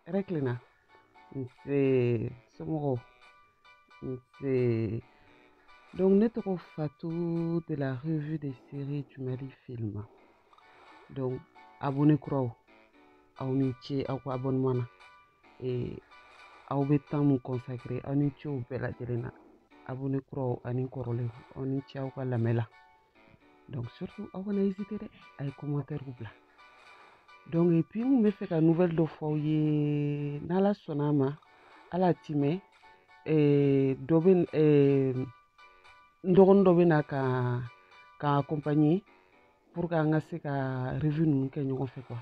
hɛrɛ tilenna nse somɔgɔw nse donc ne tɔgɔ fatu de la revue des séries du mali film donc abonné kuraw aw ni ce aw ka abonnement na ee aw bɛ temps mun consacrer aw ni ce o bɛɛ lajɛlen na abonné kuraw ani kɔrɔlenw aw ni ce aw ka lamɛn la donc surtout aw kana hésité dɛ a ye commentairew bila donc et puis n kun b'a fɛ ka nouvelle dɔ fɔ aw ye n'ala sɔnna a ma ala a tɛ mɛn eh, dɔ bɛ eh, n dɔgɔnin dɔ bɛ na ka accompagner pour que an ka se ka revue ninnu kɛ ɲɔgɔn fɛ quoi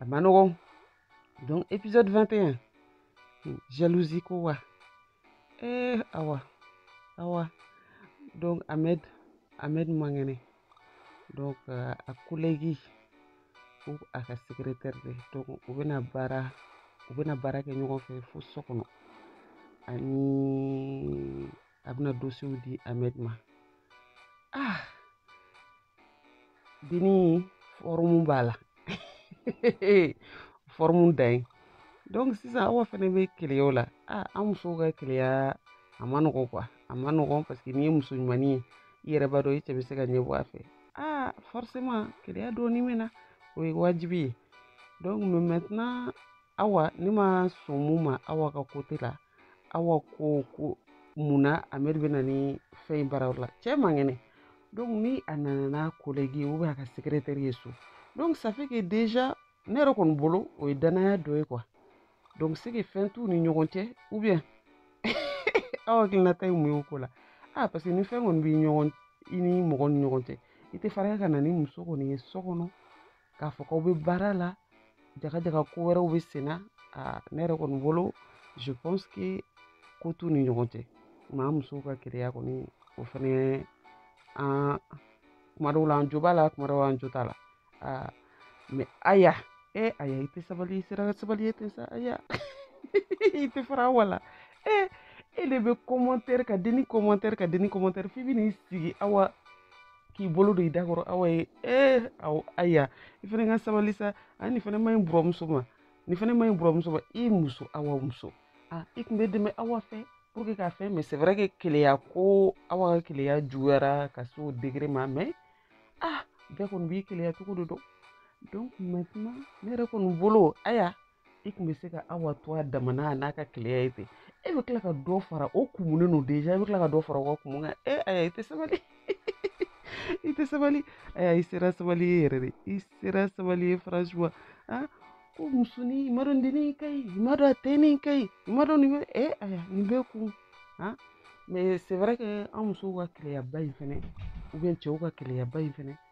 a ma nɔgɔn donc épisode 21 jalousie ko wa eh awa awa donc Ahmed Ahmed man kɛnɛ donc euh, a collègue ou a ka secrétaire de don u bɛna baara u bɛna baara kɛ ɲɔgɔn fɛ fo so kɔnɔ ani a bɛna dossierw di Ahmed ma ah denni forme b'a la forme dan ye donc sisan awa fɛnɛ bɛ keleya o la aa an musow ka keleya a ma nɔgɔn quoi a ma nɔgɔn parce que n'i ye muso ɲumanni ye i yɛrɛ b'a dɔn i cɛ bɛ se ka ɲɛbɔ a fɛ aa forcément keleya dɔɔni bɛ na o ye wajibi ye donc mais maintenant awa ne ma sɔn mun ma awa ka côté la awa ko ko mun na Ahmed bɛ na ni fɛn in baara la cɛ man kɛnɛ donc ni a nana n'a collègue ou bien a ka secrétaire ye so donc ça fait que déjà ne yɛrɛ kɔni bolo o ye danaya dɔ ye quoi donc c'est que fɛn t'u ni ɲɔgɔn cɛ ou bien aw hakilinata ye mun ye o ko la ah parce que ni fɛn kɔni b'i ɲɔgɔn i ni mɔgɔ ni ɲɔgɔn cɛ i tɛ fariya ka na ni muso kɔni ye so kɔnɔ k'a fɔ k'aw bɛ baara la jaga jaga ko wɛrɛw bɛ senna aa ne yɛrɛ kɔni bolo je pense que ko t'u ni ɲɔgɔn cɛ maa musow ka keleya kɔni o fɛnɛ an kuma dɔw la an jo b'a la kuma dɔw an jo t'a la aa mais aya e aya i tɛ sabali i sera sabali ye ten sa aya i tɛ fara awa la e e de bɛ commenter ka denni commenter ka denni commenter f'i bɛ n'i sigi awa k'i bolo don i da kɔrɔ awa ye ee aw aya i fana ka sabali sa a nin fana ma ɲi buramuso ma nin fana ma ɲi buramuso ma i muso awa muso a i tun bɛ dɛmɛ awa fɛ pour que ka fɛn mais c'est vrai que keleya ko awa ka keleya juguyara ka se o degré ma mais ah bɛɛ kɔni b'i keleya cogo de dɔn donc maintenant ne yɛrɛ kɔni bolo aya i kun bɛ se ka awa to a damana n'a ka keleya ye ten e bɛ tila ka dɔ fara o kumunen don déjà i bɛ tila ka dɔ fara o ka kumu kan e aya i tɛ sabali i tɛ sabali aya i sera sabali ye yɛrɛ de i sera sabali ye franchement ah ko musoni i ma dɔn dennin ka ɲi i ma dɔn a tɛnin ka ɲi i ma dɔn nin bɛ e aya nin bɛɛ kun ah mais c'est vrai que an musow ka keleyaba in fɛnɛ ou bien cɛw ka keleyaba in fɛnɛ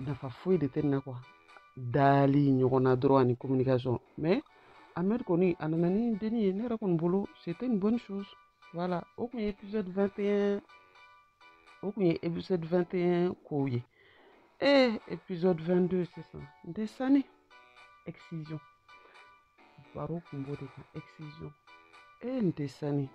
nafa foyi de tɛ nin na quoi dali ɲɔgɔn na dɔrɔn ani communication mais Ahmed kɔni a nana ni dennin ye ne yɛrɛ kɔni bolo c'était une bonne chose voilà o kun ye épisode 21 o kun ye épisode 21 kow ye ee épisode 22 sisan n tɛ sanni excision baro kun b'o de kan excision ee n tɛ sanni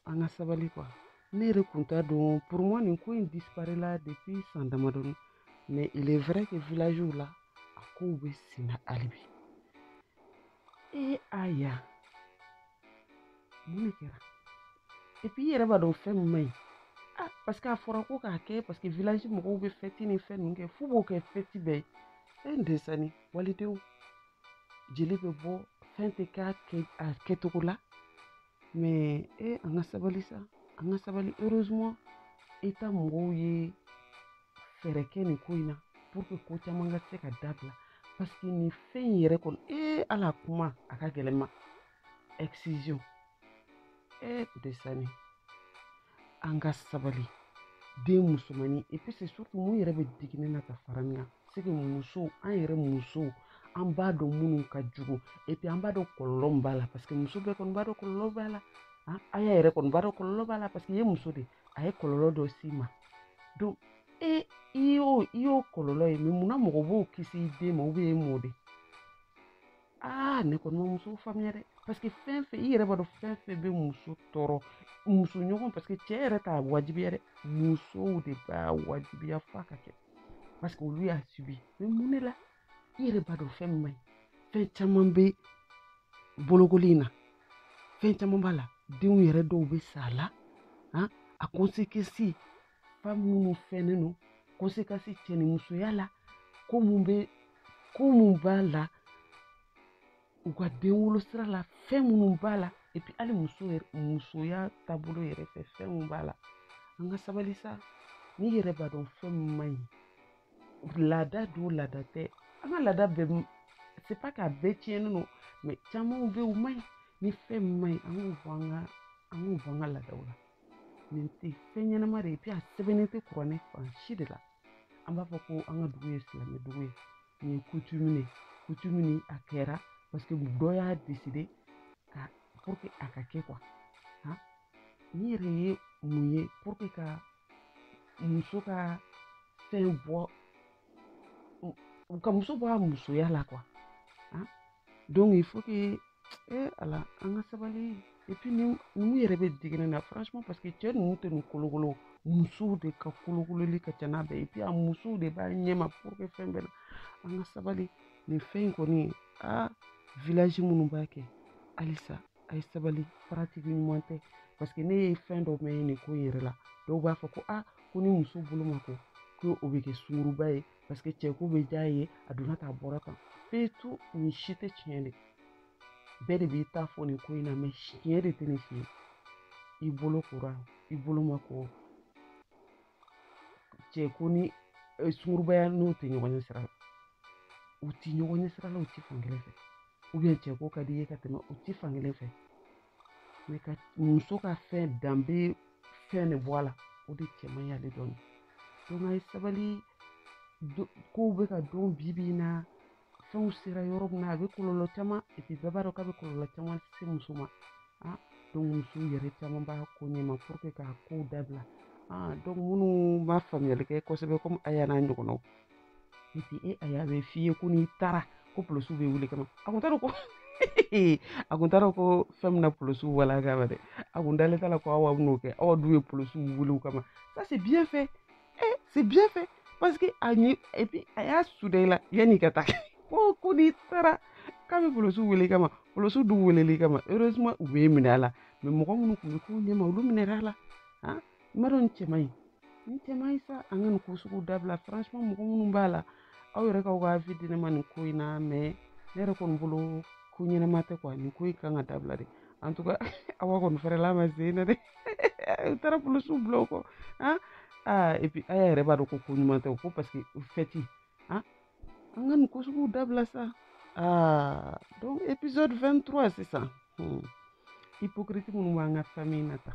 an ka sabali quoi ne yɛrɛ kun t'a dɔn pour moi nin ko in disparela depuis san damadɔni mais il est vrai que villagew la a kow bɛ sen na hali bi ee aya mun de kɛra et puis i yɛrɛ b'a dɔn fɛn min man ɲi ah parce que a fɔra ko k'a kɛ parce que village mɔgɔw bɛ fête ni fɛn ninnu kɛ f'u b'o kɛ fête bɛɛ ye fɛn desani walidenw jeli bɛ bɔ fɛn tɛ k'a kɛ a kɛcogo la mais e an ka sabali sa an ka sabali heureusement état mɔgɔw ye fɛɛrɛ kɛ nin ko in na pour que ko caman ka se ka dabila parce que nin fɛn in yɛrɛ kɔnɔ ee ala kuma a ka gɛlɛn n ma excision ee desani an ka sabali den musomannin et puis c'est surtout mun yɛrɛ bɛ digi ne na ka fara nin kan c'est que musow an yɛrɛ musow an b'a dɔn minnu ka jugu et puis an b'a dɔn kɔlɔlɔ min b'a la parce que muso bɛɛ kɔni b'a dɔn kɔlɔlɔ b'a la a y'a yɛrɛ kɔni b'a dɔn kɔlɔlɔ b'a la parce que i ye muso de a ye kɔlɔlɔ dɔ s'i ma donc e i y'o i y'o kɔlɔlɔ ye mais munna mɔgɔ b'o kisi i den ma ou bien e m'o de aa ne kɔni ma muso faamuya dɛ parce que fɛn fɛn i yɛrɛ b'a dɔn fɛn fɛn bɛ muso tɔɔrɔ muso ɲɔgɔn parce que cɛ yɛrɛ t'a wajibiya dɛ musow de b'a wajibiya f'a ka kɛ parce que olu y'a subi mais mun de la i yɛrɛ b'a dɔn fɛn min man ɲi fɛn caman bɛ bolokoli in na fɛn caman b'a la denw yɛrɛ dɔw bɛ sa a la a conséquence fan minnu fɛnnen don conséquence cɛ ni musoya la ko mun bɛ ko mun b'a la u ka den wolo sira la fɛn minnu b'a la et puis hali muso yɛrɛ musoya taabolo yɛrɛ fɛ fɛn minnu b'a la an ka sabali sa n'i yɛrɛ b'a dɔn fɛn min man ɲi laada don laada tɛ an ka laada bɛɛ c'est pas k'a bɛɛ tiɲɛnen don mais camanw bɛ yen u man ɲi ni fɛn min man ɲi an k'o bɔ an ka an k'o bɔ an ka laadaw la nin tɛ fɛn ɲɛnama de ye et puis a sɛbɛnnen tɛ kuranɛ fan si de la an b'a fɔ ko an ka dugu ye silamɛ dugu ye nin ye coutume de ye coutume ni a kɛra parce que dɔ y'a décidé pour que a ka kɛ quoi han nin yɛrɛ ye mun ye pour que ka muso ka fɛn bɔ ka muso bɔ a musoya la quoi donc il faut que e ala an ka sabali et puis ninnu yɛrɛ bɛ digi n na franchement parce que cɛ ninnu tɛ nin kolokolo musow de ka kolokololi ka ca n'a bɛɛ et puis a musow de b'a ɲɛma pour que fɛn bɛɛ la an ka sabali nin fɛn in kɔni a village minnu b'a kɛ halisa a ye sabali pratique ɲuman tɛ parce que ne ye fɛn dɔ mɛn nin ko in yɛrɛ la dɔw b'a fɔ ko a ko ni muso bolo ma ko ko o bɛ kɛ sunguruba ye parce que cɛko bɛ diya a ye a donna tan a bɔra tan en fait nin si tɛ tiɲɛ de bɛɛ de b'i ta fɔ nin ko in na mais tiɲɛ de tɛ nin si ye i bolo kora i bolo ma ko cɛko ni sungurubaya n'u tɛ ɲɔgɔn ɲɛ sira la u tɛ ɲɔgɔn ɲɛ sira la u tɛ fankelen fɛ ou bien cɛko ka di i ye ka tɛmɛ u tɛ fankelen fɛ mais ka muso ka fɛn danbe fɛn de bɔ a la o de cɛ man ɲi hali dɔɔni donc a ye sabali kow bɛ ka dɔn bi bi in na fɛnw sera yɔrɔ min na a bɛ kɔlɔlɔ caman et puis bɛɛ b'a dɔn k'a bɛ kɔlɔlɔ caman se muso ma ah donc musow yɛrɛ caman b'a ko ɲɛma pour que k'a kow dabila ah donc minnu ma faamuyali kɛ kosɛbɛ comme aya n'a ɲɔgɔnnaw et puis e aya b'a f'i ye ko n'i taara ko polosiw bɛ wuli kama a kun t'a dɔn ko a kun t'a dɔn ko fɛn bɛna polosiw wel'a kama dɛ a kun dalen t'a la ko awa bɛn'o kɛ awa dun ye polosiw wuli o kama ça c'est bien fait eh, c'est bien fait parce que a ɲɛ et puis a y'a suda i la yanni ka taa ko ko n'i taara k'a bɛ polosiw wele kama polosiw dun welel'i kama heureusement u bɛ minɛ a la mais mɔgɔ minnu tun bɛ ko ɲɛma olu minɛra a la han n b'a dɔn nin cɛ man ɲi nin cɛ man ɲi sa an ka nin ko sugu dabila franchement mɔgɔ minnu b'a la aw yɛrɛ k'aw ka avis di ne ma nin ko in na mais ne yɛrɛ kɔni bolo ko ɲɛnama tɛ quoi nin ko in kan ka dabila de en tout cas awa kɔni fɛrɛla ma se na dɛ u taara polisiw bila o kɔ han aa et puis aya yɛrɛ b'a dɔn ko ko ɲuman tɛ o ko parce que en fait han an ka nin ko suguw dabila sa aa donc épisode 23 sisan hmm. hypocrite minnu b'an ka famille na tan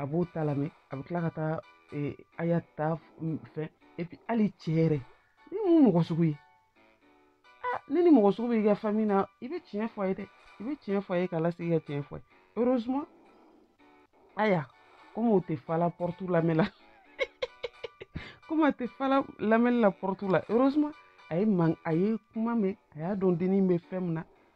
a b'o ta lamɛn a bɛ tila ka taa aya ta fɛ et puis hali cɛ yɛrɛ nin ye mun mɔgɔ sugu ye aa ni nin mɔgɔ sugu bɛ i ka famille na i bɛ tiɲɛ fɔ a ye dɛ i bɛ tiɲɛ fɔ a ye k'a lasigi ka tiɲɛ fɔ a ye heureusement aya comme o tɛ fala porte lamɛn la comme a tɛ fala lamɛnni la porte la heureusement a ye man a ye kuma mɛn a y'a dɔn dennin bɛ fɛn min na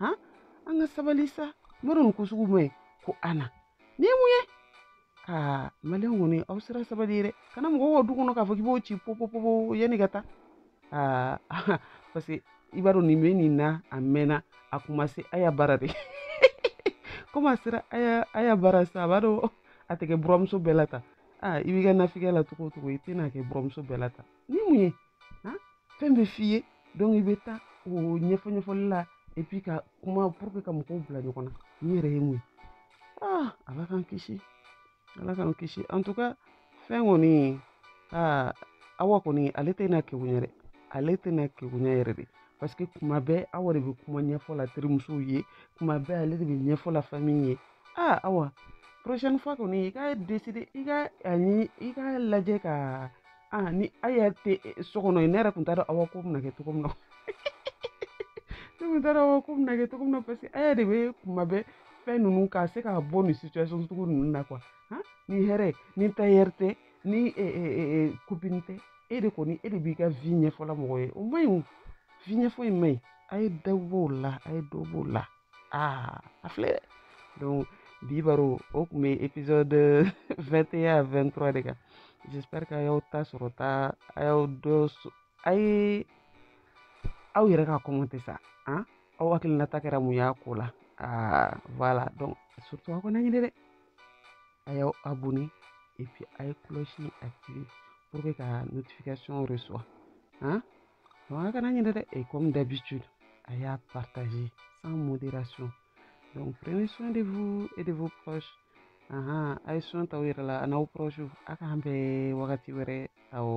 han an ka sabali sa n b'a dɔn nin ko sugu man ɲi ko ana nin ye mun ye aa maliyɛn kɔni aw sera sabali ye dɛ ka na mɔgɔw ka du kɔnɔ k'a fɔ k'i b'o ci popopopo yanni ka taa aa parce que i b'a dɔn nin bɛ nin na a mɛnna a kun ma se a y'a baara de komi a sera a y'a a y'a baara sa a b'a dɔn a tɛ kɛ buramuso bɛɛ la tan aa i b'i ka nafikɛ la cogo o cogo i tɛna kɛ buramuso bɛɛ la tan ni mun ye han fɛn bɛ f'i ye donc i bɛ taa o ɲɛfɔ ɲɛfɔli la et puis ka kuma pour que ka mɔgɔw bila ɲɔgɔn na nin yɛrɛ ye mun ye ah ala k'an kisi ala k'an kisi en tout cas fɛn kɔni aa ah, awa kɔni ale tɛna kegunya dɛ ale tɛna kegunya yɛrɛ dɛ parce que kuma bɛɛ awa de bɛ kuma ɲɛfɔ la terimusow ye kuma bɛɛ ale de bɛ ɲɛfɔ la famille ye aa ah, awa prochaine fois kɔni i ka décider i ka ani i ka lajɛ ka aa ni a y'a tɛ so kɔnɔ ne yɛrɛ tun t'a dɔn awa ko bɛna kɛ cogo min na ne tun t'a dɔn awa ko bɛna kɛ cogo min na parce que a yɛrɛ de bɛ kuma bɛɛ fɛn ninnu k'a se k'a bɔ nin situation sugu ninnu na quoi ni hɛrɛ ni tailleur tɛ ni copine tɛ e de kɔni e de b'i ka vie ɲɛfɔla mɔgɔ ye o man ɲi o vie ɲɛfɔ in man ɲi a ye dɔ b'o la a ye dɔ b'o la aa a filɛ dɛ donc bi baro o tun bɛ épisode 21 à 23 de kan j'espère que a y'aw ta sɔrɔ ta a y'aw dɔ a ye aw yɛrɛ ka commenter sa an aw hakilinata kɛra mun y'a ko la aa voilà donc surtout aw kana ɲinɛ dɛ a y'aw abonné et puis a ye cloche activer pour que ka notification reçoit hein? a kana ɲinɛ dɛ et comme d'habitude a y'a partager sans modération donc prenez soin de vous et de vos proches ahan a ye soin ta aw yɛrɛ la a n'aw proche a k'an bɛn wagati wɛrɛ awɔ